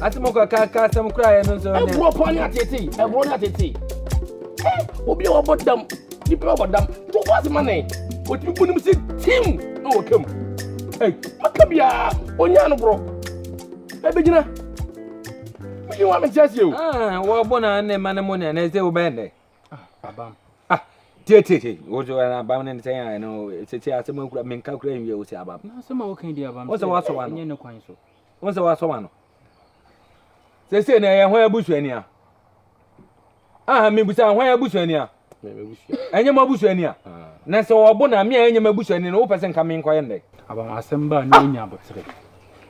ati mo kɔka ka asɛm koraa yɛ no nso ne ɛboɔ paa ne atetei ɛboɔ ne atetei obi a wɔbɔ dam nipa a wɔbɔ dam to bɔ ase ma ne wɔtumi bu nim sɛ tim na wɔka mu maka biaa ɔnyaa no borɔ ɛbɛgyina mede wa mekyɛ aseɛ o ah, wɔbɔ na ne ma no mu ne ɛnɛ sɛ wobɛn dɛ tietietie wotu ɛna abam ne nsɛn a ɛno tete asɛm akura menka kura nwie wo sɛ abam wosɛ wasɔ wa no Wohu sɛ wasɔ w'ano. Sese na ɛyɛ hwan abusuani a? Aha mibisa hwan abusuani a? Ɛnyɛ mo abusuani a? Ah. Na sɛ ɔbo na me a ɛnyɛ mo abusuani no wopɛ sɛ nka me nkɔyɛ ndɛn? Abawo asɛm baa na wonya abotere.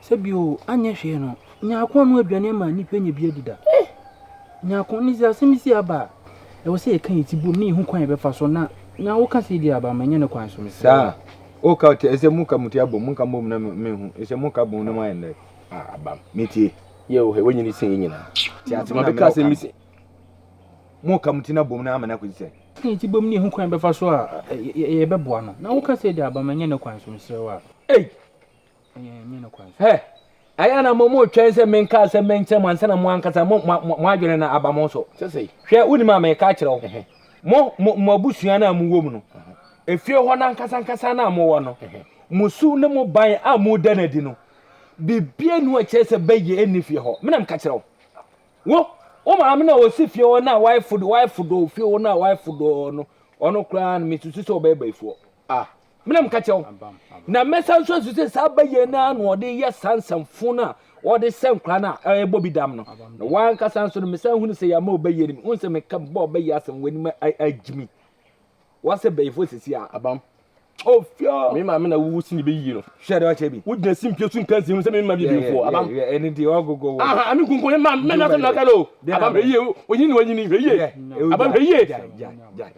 Sɛ bio anyɛ hwee no nyaako ano aduane ama nnipa nya bi adida. Eh! Nyaako ne sɛ asɛm si aba a ɛwɔ sɛ yɛka yɛ ti bom ne yɛhu kwan yɛbɛfa so na na woka sɛ di aba ma ɛnyɛ ne kwan so mesrɛ. O ka ɔte ɛsɛ mu ka mu ti abom mu nka mbom na me hu ɛsɛ mu ka bom na mu ayɛ nnɛ ah abam me tie yɛ o hɛ wɔnyini sɛ yɛ nyina ti ase ma bɛka sɛ mi sɛ mu ka mu ti na bom na ama na kɔsi sɛ ne ti bom ne ehu kwan bɛfa so a yɛbɛboa no na wo ka sɛ de abam ɛnyɛ ne kwan so mesrɛ wo a ei Hɛ! Ɛyɛ na mo mo twɛn sɛ menka asɛm bɛn kyerɛ mo ansa na mo ankasa mo mo adwene no aba mo so. Hwɛ, wonim a meka akyerɛ wo. Mo mo mo abusua no a mowɔ mu no, efie hɔ no ankasa ankasa no a mowɔ no, mo su ne mo ban a moda no adi no, biribiara nni hɔ a kyerɛ sɛ bɛyɛ ɛnni fie hɔ. Me na meka kyerɛ wo. Wo, wo maame na ɔsi fie hɔ no a wayɛ fodoo, wayɛ fodoo, fie hɔ no a wayɛ fodoo no, ɔno koraa no mesusu sɛ ɔbɛyɛ bayifoɔ. Ah. Me na meka kyerɛ wo. Na mɛsan nso asu sɛ saa ba yɛn no ara na ɔde yɛ saa nsɛmfo no a ɔde sɛ nkora no a ɛbɔ bi dam no. Na wankasa nso no mesan hunu sɛ yɛama ɔbɛyɛ no mi. Wohu sɛ meka bɔ ɔbɛyɛ asɛm w'anim agyimi. Wasɛ bɛyifoɔ sisi a. Abam. Oh, fio. Me maame na wuwu si ne bɛyiyi no. Hwɛ dɛ ɔkyɛ bi. Wogyina si mpie so nkansi hu sɛ me mma bi bɛyifoɔ. Abam. Ɛne deɛ ɔgogo wɔ. Aha, ame nkunko yɛ ma me nasɛm na ɔka no. Abam, hwɛ yie, onyini na wanyini, hwɛ yie. Abam, hwɛ yie.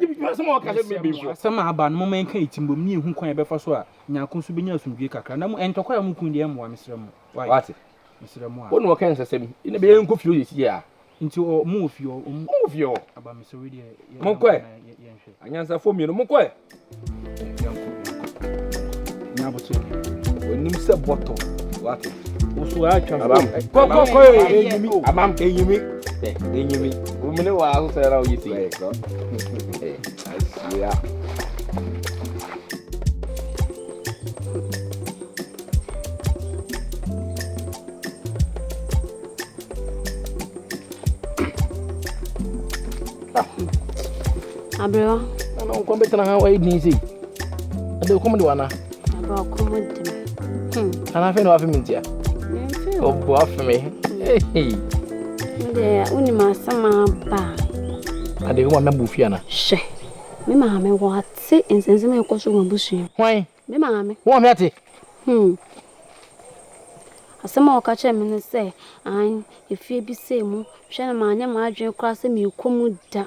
Mebusuabɔ asɛm a aba no, momma yɛnka eti mbom na yɛnhu kwan a yɛbɛfa so a nyɛnko so benya asomdwoe kakra. Na mo, ntɔkwaw a muku no deɛ, ɛmmoa, mesrɛ mo. Wate? Mesrɛ mo a. Wo ne wɔka nsasɛm yi, na ɛbɛyɛ yɛnkɔ fie hɔ yɛ sie a. Nti ɔ, mowɔ fie hɔ? Ɔmo wɔ fie hɔ. Aba, mesrɛ wo, wei deɛ, yɛ, yɛnkɔ na yɛnhwɛ. Anyansafoɔ mmienu, monkɔ ɛ! onim sɛ bɔtɔ wate woso atwa abam kɔkɔkɔ enyimi abam enyimi enyimi womene wa aso sɛ na woyɛ sei asia Ah. Abrewa. Na na nkwa bɛtena ha wayɛ din sei. Ɛde kɔm de wana. Abrewa kɔm de me. Hmm. Ana afei na wafe me ntia. Ɔbɔ afe me. Ɛdeɛ wonim asɛm aba. Ade wo maame abu fia na. Hwɛ. Me maame wɔate nsɛnsɛm a ɛkɔ so wɔ abusua. Hwan? Me maame. Wo maame ate? Hmm. Asɛm a ɔka kyerɛ me no sɛ, an efie bi sɛ mu, hwɛ na maanyɛ m'adwene koraa sɛ merekɔ mu da.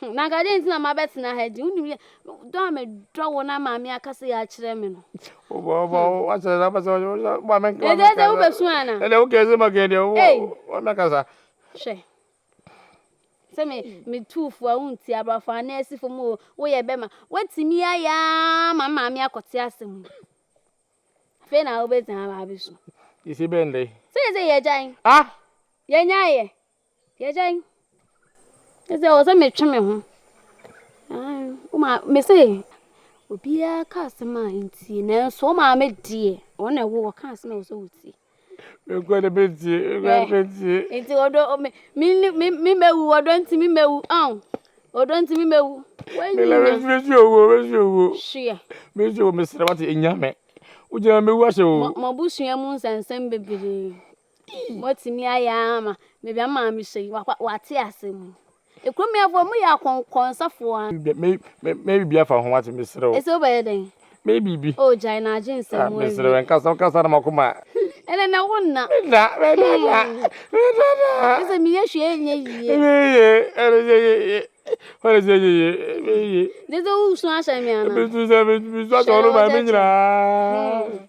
Hmm, na nka dɛn nti na mabɛtena ha gye wonim yɛ dɔ a medɔ wo na maame akasa yɛ akyerɛ me no wakyerɛ sɛ bɛsɛ ɛdɛ sɛ wobɛsu ana ɛdɛ wokɛ sɛ ma kɛn deɛ mɛkasa hwɛ sɛ me metuu fo a wonti abrafo a na asi fo mu o woyɛ bɛma woatumi ayɛ a ma maame akɔte asɛm mu afei na wobɛtumi aba abɛsu ɛsi bɛn dɛ sɛ yɛ sɛ yɛgyae ah yɛnyaeɛ Yɛgyae. Ɛsɛ ɛwɔ sɛ metwe me ho. Wo maa me se obiara ka asɛm a ntie nanso wo maa me deɛ wɔn na ɛwɔ ɔka asɛm a ɛwɔ sɛ wotie. Mekɔ de bɛtie mekɔ de bɛtie. Nti ɔdɔ me me me me mɛwu ɔdɔ nti me mɛwu ɔn ɔdɔ nti me mɛwu. Mela bɛsi bɛsi owo bɛsi owo. Hwɛ. Bɛsi owo mesrɛ wate enya me. Wogyina me wu ahyɛ o. Mo abusua mu nsɛnsɛm bebree. Moatumi ayɛ ara ama me bia maa me sua yi wate asɛm yi ekuro mi afoɔ mo yɛ akɔnkɔnsafoɔ an. Mɛyɛ biribi afa ho wate mesrɛ wo. Ɛsɛ wobɛyɛ dɛn? Mɛyɛ biribi. O gyae na agye nsɛm ah, mu awie. Mesrɛ nkasa nkasa na makoma. Ɛnɛ na wo nna. Meda meda da meda da. Ɛsɛ meyɛ hwee ɛnyɛ yie. Meyɛ ɛnɛ yɛ yɛ yɛ. Wɔn ɛsɛ yɛ yɛ meyɛ. Dede wo sun ahyɛ me ana. Mesu sɛ mesu ahyɛ ɔno ma me nyinaa.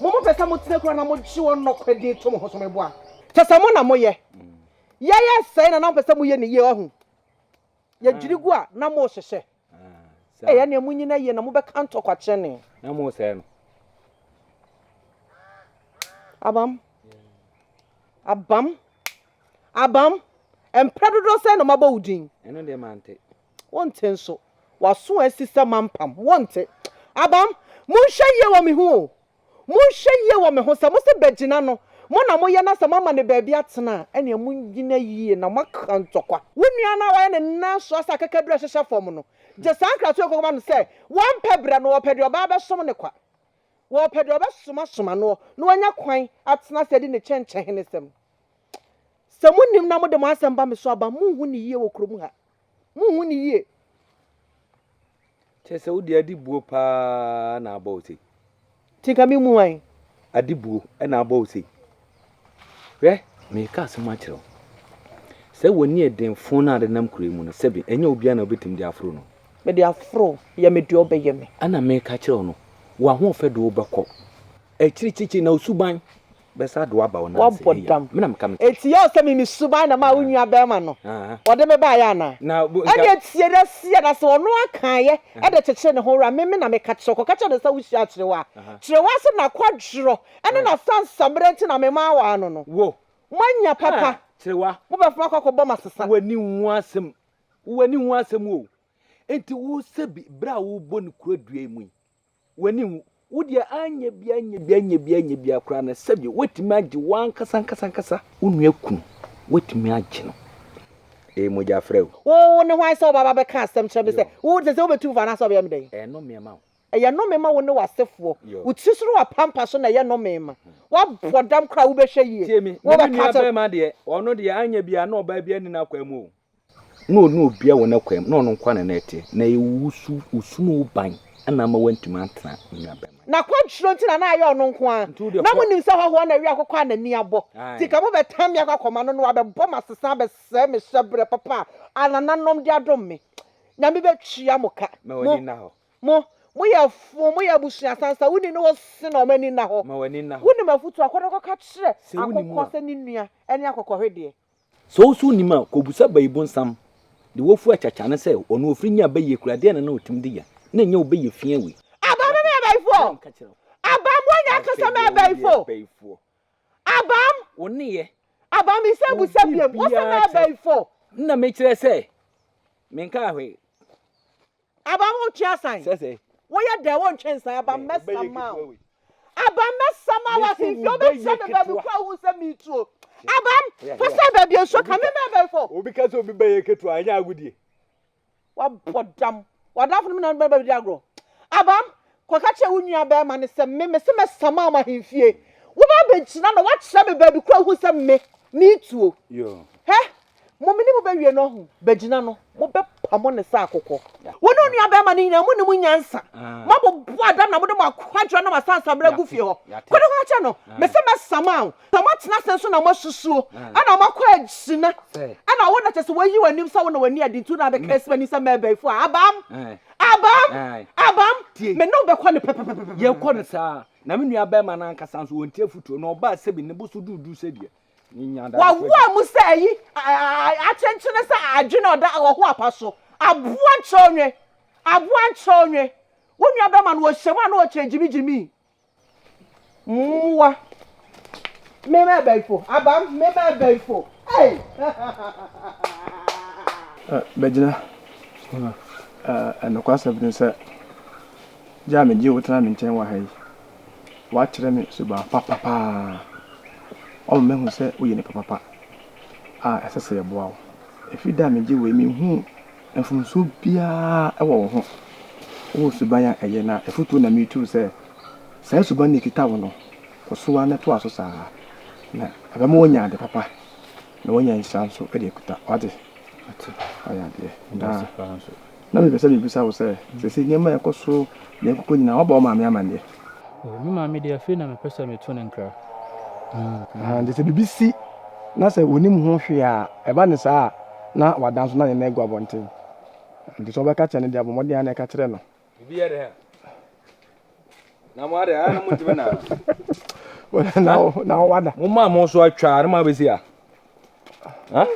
Mo mo pɛ sɛ motena kura na mogye wɔn nɔkwa din to mo ho so meboa. Kyɛ sɛ mo na moyɛ. Yɛ yɛ sɛɛ na na mopɛ sɛ moyɛ no yie ɔho. Yɛ dwiri gu a na mo rehyehyɛ. Ee ɛneɛ mo nyina yie na mo bɛka ntɔkwa kyerɛ ne. Na mo sɛɛ no. Abam. Abam. Abam. Mpɛ dodoɔ sɛɛ na mo abɔ wo din. Ɛno deɛ mante. Wonte nso. W'aso asi sɛ mampam. Wonte. Abam, monhwɛ yie wɔ me ho o! Monhwɛ yie wɔ me ho! Sɛ mose bɛgyina no, mo na moyɛ na sɛ moama no baabi atena a, ɛnneɛ mongyina yie na moaka ntɔkwa. Wo nua no a wayɛ ne nan soa sɛ akakabirɛ hyehyɛ fam no, gye saa nkratoɔ yi kɔkɔma no sɛ, Wampɛ brɛ no, ɔpɛ deɛ ɔbaa bɛsom no kwa. Ɔpɛ deɛ ɔbɛsomasoma noɔ na wanya kwan atena ase adi ne kyɛnkyɛnhenesɛm. Sɛ monnim na mode mo asɛm ba me so aba a, monhu no yie wɔ kurom ha. Munhu no yie. Kyerɛ sɛ wode adibuo paa na abɔ wo sei. Nti nka memu wan? Adibuo na abɔ wo sei. Hwɛ. Meka asɛm akyerɛ wo. Sɛ w'ani ɛden fon no a de nam kuro yi mu no, sɛbi, ɛnyɛ obiara na wobɛtumi de aforo no. Mede aforo, yɛ me deɛ ɔbɛyɛ me. Ɛna meka kyerɛ wo no, w'ahoɔfɛ de wobɛkɔ akyirikyirikyiri na wo suban wɔbɔ dam. Enti ɔse me me suban na maa wo nua barima no ɔde me baeɛ anaa? Ɛneɛ tie na sie, na sɛ ɔno ara kaeɛ de kyekyere ne ho werɛ a, me me na meka kyerɛ wo. Kɔka kyerɛ no sɛ wosua akyerewa a, kyerewa se n'akwadworɔ ne n'asansammerɛ nti na memaa wɔaa no no. Moanya papa, mobɛfom akɔ akɔbɔ mo asesa. W'ani ho asɛm, w'ani ho asɛm o. Enti wosɛ bi berɛ a wobɔ ne kuro dua yi mu yi, W'ani nwu. Wo deɛ anyɛ biaa nyɛ biaa nyɛ biaa nyɛ biaa koraa no, sɛdeɛ woatumi agye w'ankasa ankasa ankasa wo nua kunu, woatumi agye no. Ee, mogya frɛ o. Wo ne hwan sɛ wobɛba abɛka asɛm kyerɛ me sɛ wo sɛsɛ wobɛtu mfaa anaasɛ wobɛyɛ me dɛn? Ɛyɛ nnomee ma wo. Ɛyɛ nnomee ma wo ne w'asefoɔ. Wo tiri so ne w'apampa so na ɛyɛ nnomee ma. Woabɔ dam koraa a wobɛhwɛ yie. Tie me, me ne nuabarima deɛ, ɔno deɛ anyɛ biaa na ɔbaa biaa nni n'akwaa mu o. Na ɔne obiara wɔ n'akwam, na ɔno nko ara na na ɛte, na ɛyɛ wusu, wusu no wo ban na ama wantumi antena ne nuabarima nkyɛn. N'akwankyerɛ nti na na ayɛ ɔno nko ara. Ná monim sɛ hɔhoɔ na wia kɔkɔɔ a n'ani abɔ. Enti ka mobɛtan me akɔ akɔma no na wabɛbɔ m'asesa abɛsɛe me hyɛberɛ papa a anananom de adom me. Nyame bɛtua mo ka. Ma w'ani nna hɔ. Mo, moyɛ afuo, moyɛ abusua asansa, wonni ne ho se na ɔma ani nna hɔ. Ma w'ani nna hɔ. Wonim afotuo a, kɔ na kɔka kyerɛ akokɔ sɛ ne nua ne akokɔhwedeɛ. Sɛ wo so nnim a, kɔbisa bayi bonsam de woafu akyakya no sɛ ɔno ɔfiri nyɛ abayie koraa deɛn na na ɔtumi de yɛ na ɛnyɛ wo bɛyɛ fi awi. Abaa no ne abayifoɔ. Abam woanya akasa ma abayifo. Abam. Wo neyɛ. Abam mesan busa biom wosɛ ma abayifo. Nna mekyerɛ sɛ menkaa hwee. Aba mo ntwe asan. Sɛ sɛ. Woyɛ dɛn wontwe nsan aba mɛsama wo. Aba mɛsama wo afi nfi obɛkyerɛ me baabi kɔ a wohu sɛ metuo. Aba fa sɛ baabi nsuo ka me mɛ bɛfo. Obi ka sɛ obi bɛyɛ ketewa ɛnyɛ agodie. Wabɔ dam. Wadafo no me na bɛbɛ di agorɔ. Aba Kɔka kyerɛ wo nuabarima no sɛ, 'Me, mese mɛsam ama ahemfie. Wobɛba abɛgyina na woakyerɛ me baabi koro a wohu sɛ me, meretuo. Hɛ! Mo me ne mo bɛwie no ahu. Bɛgyina no, mobɛpamo no sɛ akokɔ. Wo ne wo nuabarima no nyinaa, monnim nyansa. Moabobɔ adam na mode mo akwadworɔ ne mo asansamena agu fie hɔ. Kɔ na kɔka kyerɛ no, mese mɛsam ama wo. Sɛ moatena ase nso na moasusuo, ɛnna moakɔ agyina, ɛnna wo na kyerɛ sɛ woayi w'anim sɛ wo na w'ani ade nti, wo na wobɛka asi m'anim sɛ mɛɛbayifoɔ a, abam! Abam! Aye. Abam! Tie. Me ne wo bɛkɔ no pɛpɛpɛpɛpɛ. Yɛkɔ no saa. Na me nua bɛrima no ankasa nso wɔntie afotuo na ɔbaa sɛbi ne bo so duudu sɛdeɛ. Wawoa mu sɛ ayi akyenkyene sɛ adwene ɔda ɔho apa so. Aboa nkyerɛw nwe. Aboa nkyerɛw nwe. Wo nua bɛrima no wɔhyɛm a na ɔkyerɛ gyimigyimii. Mmoa me ma ɛbɛnfo. Abam me ma ɛbɛnfo. Ei! Bɛgyina, Hona, Nokwasɛm ne sɛ, gye a megye wotena me nkyɛn wɔ ha yi, woakyerɛ me suban papa paa. Woama mahu sɛ woyɛ nipa papa a ɛsɛ sɛ yɛboa wo. Efi da a migye wei, minhuu. Mfomsoɔ biara wɔ wo ho wɔ suban a ɛyɛ na afotuo na meretu wo sɛ, saa suban na ɛkita wo no, kɔ so ara na toa so saa ara, na ɛbɛma woanya ade papa, na woanya nhyira nso de akuta. Wate? Wayɛ adeɛ. Na, na mepɛ sɛ mebisa wo sɛ, seesei nneɛma a ɛkɔ so, deɛ ɛkɔ kɔ nyinaa, woaba wo maame amanneɛ? Oh, me maame deɛ afei na mepɛ sɛ meto ne nkra. Ahaa, nti sɛ biribi si na sɛ ɔnim ho hwee a, ɛba no saa a, na wada nso na ne nan agu abɔnten. Nti sɛ wobɛka kyerɛ no deɛ a, bɔ mmɔden ara na ɛka kyerɛ no. Biribi yɛ dɛn a, na mo adeɛ, a na montumi nna ha. Na wo, na wo wada. Mo maa mo so atwa a, na mo abɛsi ha. Ha?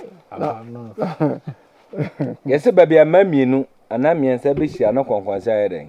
Yɛse baabi a mmaa mmienu anaa mmiɛnsa bɛhyia no kɔnkɔnsa yɛ dɛn?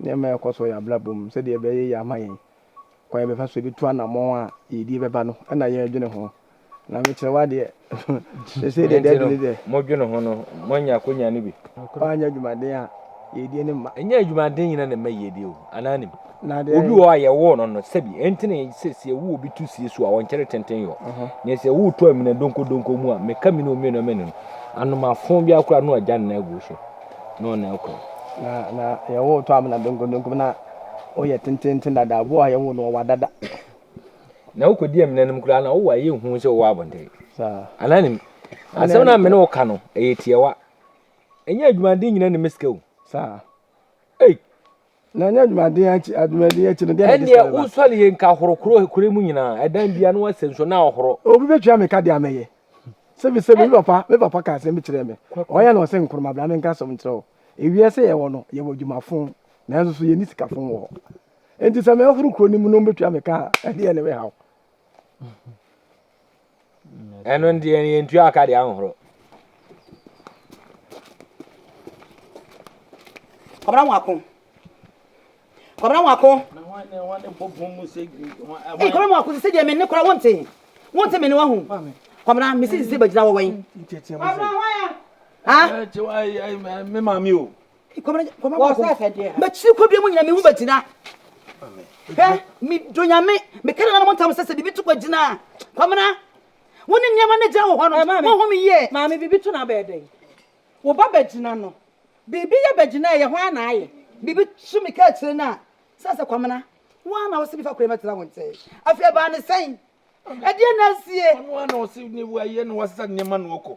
nneɛma a ɛkɔ so wɔ yɛn abrabɔ mu sɛdeɛ ɛbɛyɛ yie ama yɛn, kwan a yɛbɛfa so bɛtu anammɔn a yɛdie bɛba no na yɛdwene ho. Na mekyerɛ wo adeɛ, ɛsɛ deɛ deɛ adwene deɛ. Modwene ho no, moanya akonya no bi. Woanyɛ adwumaden a, yiedie no mma. Ɛnyɛ adwumaden nyina na ɛma yiedie o, anaa nim? Obi wɔ a yɛwoo no no, sɛbi, ɛnti na sɛ sɛ yɛwo obi to sie so a, ɔnkyere tenten yɔ. Na sɛ yɛwo to amina donkodonko mu a, meka mene omienu amene no, anomafo biara koraa no agya no na agu so. no na ɛkɔ. Na na yɛwoo to amena donkondonkon na ɔyɛ tententen dada. Bo a yɛwoo no ɔwa dada. Na wokɔdi amena no mu koraa na wowɔ a yɛ nhu sɛ wowɔ abɔnten. Anaa nim. Asɛm no a me ne woka no ɛyɛ tiawa. Ɛnyɛ adwumaden nyina ne me sika o. Saa. Ei! Na ɛnyɛ adwumaden akyi adwumaden akyi no deɛ na ɛde ɛnneɛ sɔre ba. wosɔ ne yɛ nka horo kuro kuro mu nyinaa ɛdan bia no asɛ nsuo na ɔhoro Obi bɛtua me ka deɛ amɛyɛ. Sɛbi sɛbi me papa me papa ka asɛm bi kyerɛɛ me. Ɔyɛ na ɔsɛ nkoroma bra menka asɛm nkyerɛ wo. Ewiase yɛwɔ no yɛwɔ adwumafo nanso so yɛnni sikafo wɔ hɔ. Enti sɛ mɛhoro kuro no mu na wɔbɛtua me ka a ɛdeɛ ne me haw. ɛno ndeɛ no yɛntua aka deɛ ahohoro kɔbra ho ako kɔbra ho ako kɔbra ho ako sɛ deɛ menne kora wonte wonte menne wahu kɔbra mesi sɛ bagyina wɔ wɛn ha me maame o makyiri kɔ bia mu nyina mehu bɛgyina hwɛ medɔ nyame meka ne nanom ntam sɛ sɛ biribi to kɔgyina a kwamena wo ne nneɛma no gyina wɔ hɔ no wohu me yie maame biribi to no abɛɛ dɛn wo ba bɛgyina no biribi yɛ bɛgyina ɛyɛ hɔ ana ayɛ biribi to me ka akyire no a sɛ sɛ kwamena wo ana wo se bi fa kora mɛtena wo nkyɛn afei ɛbaa ne sɛn ɛdeɛ na asie ɔno ana ɔse ne wo ayɛ no wasesa nneɛma no ɔkɔ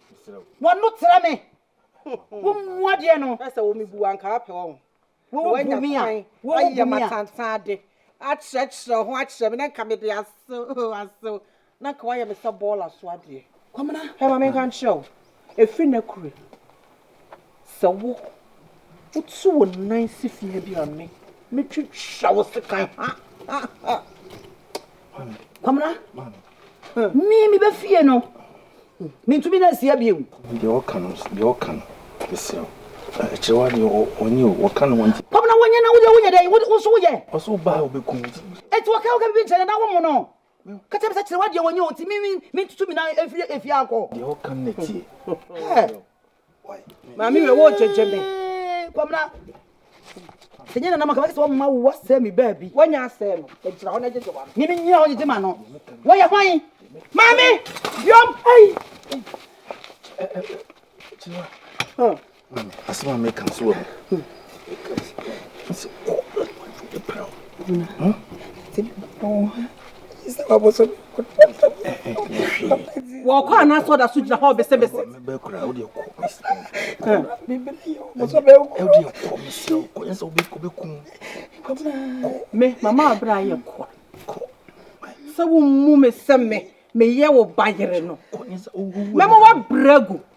Wɔn no tra me. Wo mu adeɛ no. Ɛsɛ wo mebu anka apɛ wɔn. Wo wo bu me a. Wo wo bu me a. Akyerɛkyerɛ ho akyerɛ me na nka me de asew asew na nka wayɛ me sɛ bɔɔla so adeɛ. Kwamina. Hwɛ ma me nka nkyerɛ wo. Efiri na kure. Sɛ wo, wotu wo nan si fie bi a, me, metwitwa wo sekan. Ha, ha, ha. Kwamina, me, me bɛ fie no, me ntumi na si abie mu. Deɛ ɔka no, deɛ ɔka no, mesrɛ wo. Ɛkyerɛ wa deɛ ɔnyɛ o, ɔka no wɔn ti. Kwamina wɔnyɛ na wodeɛ woyɛ dɛ, wo nso woyɛ. Ɔsɛ wo baa ɔbɛku wo ti. Eti ɔka ɔka bibi nkyɛn na wo mu no. Kata bisa kyerɛ wa deɛ wɔnyɛ o, ti mi mi mi tutu mi nan efiri efie ankɔ. Deɛ ɔka no na tie. Hɛ, maame wei wɔ gyegye me kɔmna sɛ nyɛ nanam akabɛkɛ sɛ wɔma wo wasɛe me baabi woanya asɛe no ɛgyina hɔ na gyegye wa no ne menyina hɔ gyegye ma no wɔyɛ hwan maame biom ei asɛm a meka nso wɔ mu Wɔkɔ a n'aso da so gyina hɔ besebese. Me mama abira yɛ kɔ. Sɛ wo mu me sɛ me meyɛ wo ba yere no. Mɛma w'abrɛ gu.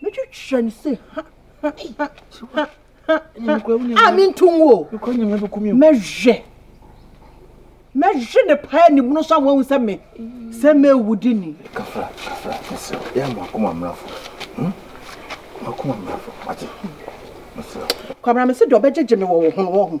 metwitwa no se a mento ngu o mɛhwɛ mɛhwɛ ne paa ne bunu so a wɔahu sɛ me sɛ mɛwu di ni kafra kafra mesrɛ yɛ mo akoma mmerɛfo hmm? mo akoma mmerɛfo wate mesrɛ kwabra me se deɛ ɔbɛgyegye me wɔ wo ho no wɔ ho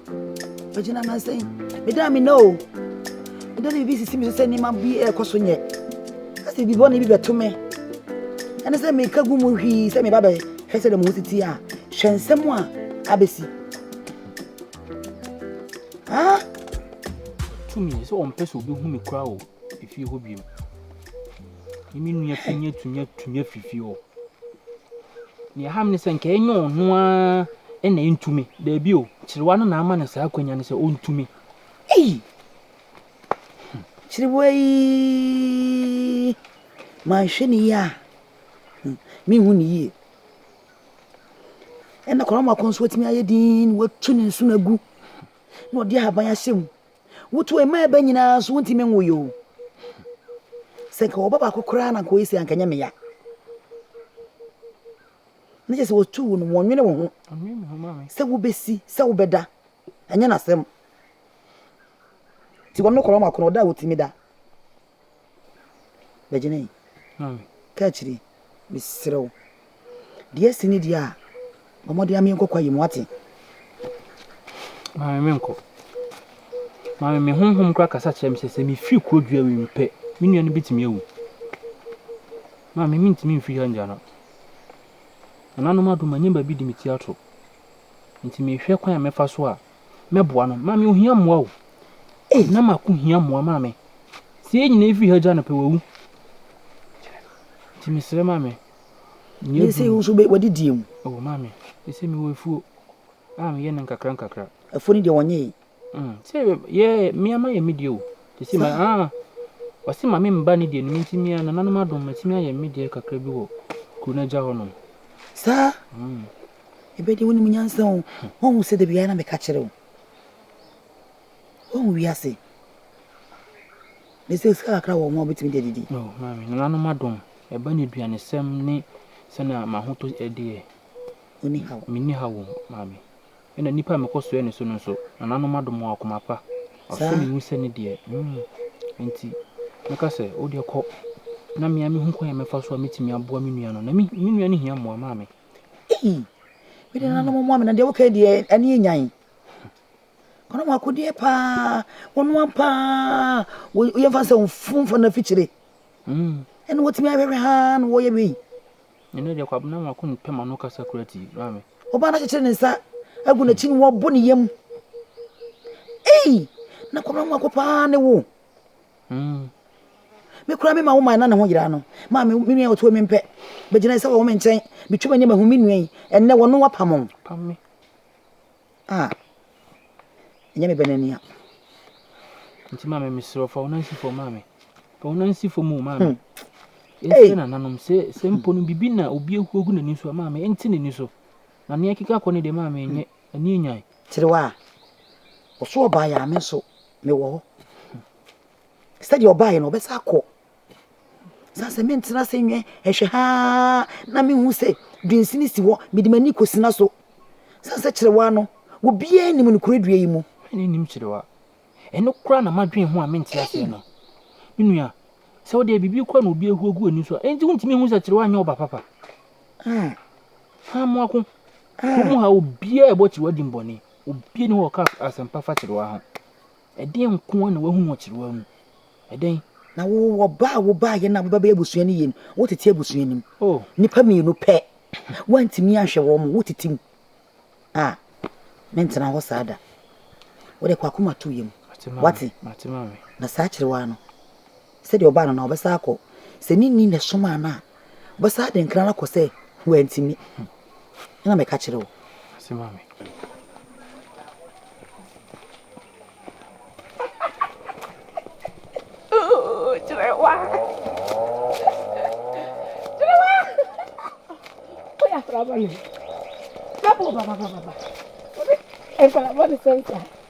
Magyina nansa yi, meda me na o. Meda ne biribi sisi me so sɛ nneɛma bi ɛrekɔ so nyɛ. Ɛsɛ biribi bɔne bi bɛto me. Ɛne sɛ meka gu mu hwii sɛ meba bɛhwɛ sɛ dɛ mo ho titi a, hwɛ nsɛm a abɛsi. Ah! Tumi sɛ ɔmpɛ sɛ obi hu me kura o efie hɔ biom. ne me nua fi nya tunya tunya fi fie hɔ nea ɛha me ne sɛ nka ɛnyɛ ɔno ara ɛna ɛntumi daabi o kyerewa no na ama no saa akwanya no sɛ ɔntumi ei hmm. kyerewa yi manhwɛ ne yie a hmm, menhu ne yie ɛna kɔrɔmako nso watumi ayɛ din watu ne nso no agu na ɔde ahaban ahyɛ mu Wotu mmaa ba nyinaa so wontumi nwo yi o. Sɛ nka ɔba baako koraa na nka ɔyɛ si anka nyɛ meya. Ne kyɛ sɛ wɔtu wo no wɔnwene wo ho sɛ wobɛsi sɛ wobɛda ɛnyɛ n'asɛm nti wɔn no kɔrɔ ma kɔrɔ ɔda a wɔtumi da Bɛgyinɛe. Ka akyiri, mesrɛ wo. Deɛ asi ne deɛ a wɔn de amenkɔ kwaeɛ mu, wate? Maame menkɔ. Maame me honhom kora kasa kyerɛ me sɛ sɛ mefiri kuro dua wei mu pɛ, me nua no bɛtumi awu. Maame mentumi mfiri ha ngya no. Nananom adom manya baabi de me ti ato. Nti mehwɛ kwan a mɛfa so a mɛboa no. Maame, ohia mmoa o. Ei, na mako hia mmoa, maame. Sɛ yɛn nyinaa firi ha gya no pɛ, wawu. Nti mesrɛ maame, nyɛ duru. Yɛsɛ nso wɔde die mu. O, maame, yɛsɛ mewɔ afuo. A meyɛ no nkakra nkakra. Afuo no deɛ wɔnyɛ yi. Mm, sɛ yɛ, mmea ma yɛ medeɛ o. Te sɛ ma, ah, wɔse maame mba ne deɛ no, nti mmea nananom adom, matumi ayɛ medeɛ kakra bi wɔ kuro no agya hɔ nom. Saa? Mm. Ebɛ deɛ wonim nyansa o. Woahu sɛ da biara na meka kyerɛ wo. Woahu wiase. Mese sika kakra wɔ ho a wobɛtumi de adidi. No, maame, nananom adom. Ɛba ne aduanesɛm ne sɛnea m'ahotɔ deɛ. Ɔni ha wo. Menni ha wo, maame. Ɛna nipa a mekɔ soɛ ne so no nso, nananom adom wɔ akoma pa. Ɔhwɛ me mu sɛ ne deɛ. Mm. Enti, mɛka sɛ, wo deɛ kɔ. Na me a mehu kwan a mɛfa so a mɛtumi aboa me nua no. Na me, me nua no hia mmoa, maame. Ei! Me nuanom mmoa me na deɛ woka deɛ ɛne yɛ nyan. Wɔn wɔn akodeɛ paa, wɔn wɔn paa, wɔyɛ nfa sɛ wɔn fun fa na fikyire. Mm. Ɛna wɔtumi ahwehwɛ ha na wɔyɛ wei. Ɛnɛ deɛ kwabena mu ako ne pɛ ma no kasa kura ti, maame. Ɔbaa no akyekyere ne nsa agu n'akyi na wɔbɔ ne yam. Ei! Na kwabena mu ako paa ne wo. Mm. Me koraa me ma wo man na ne ho yera no. Ma me me nua ɔtoɔ mi mpɛ. Bɛgyina sɛ wɔ me nkyɛn. Metwa m'ani mahu me nua yi. Ɛnnɛ wɔno wapam wɔn. Pam me. Ah. Ɛnyɛ me bɛ n'ani a. Nti ma me mesrɛ fa wo nan si fam ma me. Fa wo nan si fam o ma me. Ɛsɛ hmm. nananom sɛ sɛ mpo no bibi na obi ahu agu n'ani so a ma me ɛnte n'ani so. Na nea ɛkeka kɔ ne deɛ ma me ɛnyɛ hmm. ani nyan. Kyerɛ wa a. Ɔso ɔbaa yɛ ame nso. Mewɔ hɔ. Sɛdeɛ ɔbaeɛ no ɔbɛsa akɔ. Sane sɛ mentena ase nwɛ nhwɛ haa na mehu sɛ dunsini si hɔ mede m'ani kɔsina so. Sane sɛ kyerewa no obiara nnim no kura dua yi mu. Hwene nnim kyerewa. Ɛno koraa na madwen ho a mente aseɛ no. Me nua, sɛ wodeɛ biribi koraa na obi ahu agu w'ani so a, ɛnti wontumi nhu sɛ kyerewa nyɛ ɔba papa. Ah. Fa mmoako. Ah. Kurom ha obiara ɛbɔ kyerewa di mbɔne. Obi nni hɔ a ɔkaa asɛmpa fa kyerewa ho. Ɛdeɛn nko ara na woahu wɔ kyerewa mu? Ɛdɛn? Na wo wɔ ba a wo baayɛ no a mobɛbɛyɛ abusua no yie no, wotete abusua no mu. Oh. Nnipa mmienu pɛ, woantumi anhwɛ wɔn mo, wotete mu. A, mentena hɔ saa da. Wode kɔ akoma to yam. Mate, maame. Wate? Mate, maame. Na saa kyerewa no, Sɛdeɛ ɔbaa no na ɔbɛsan akɔ. Sɛ ne nni na ɛsomaa no a, ɔbɛsan de nkra no akɔ sɛ, Woantumi. Ɛna meka kyerɛ wo. Ase ma me. Kyerɛwa. Kyerɛwa. Woyɛ afraba ne. Baba, baba, baba. Ɛfraba ne sɛnta.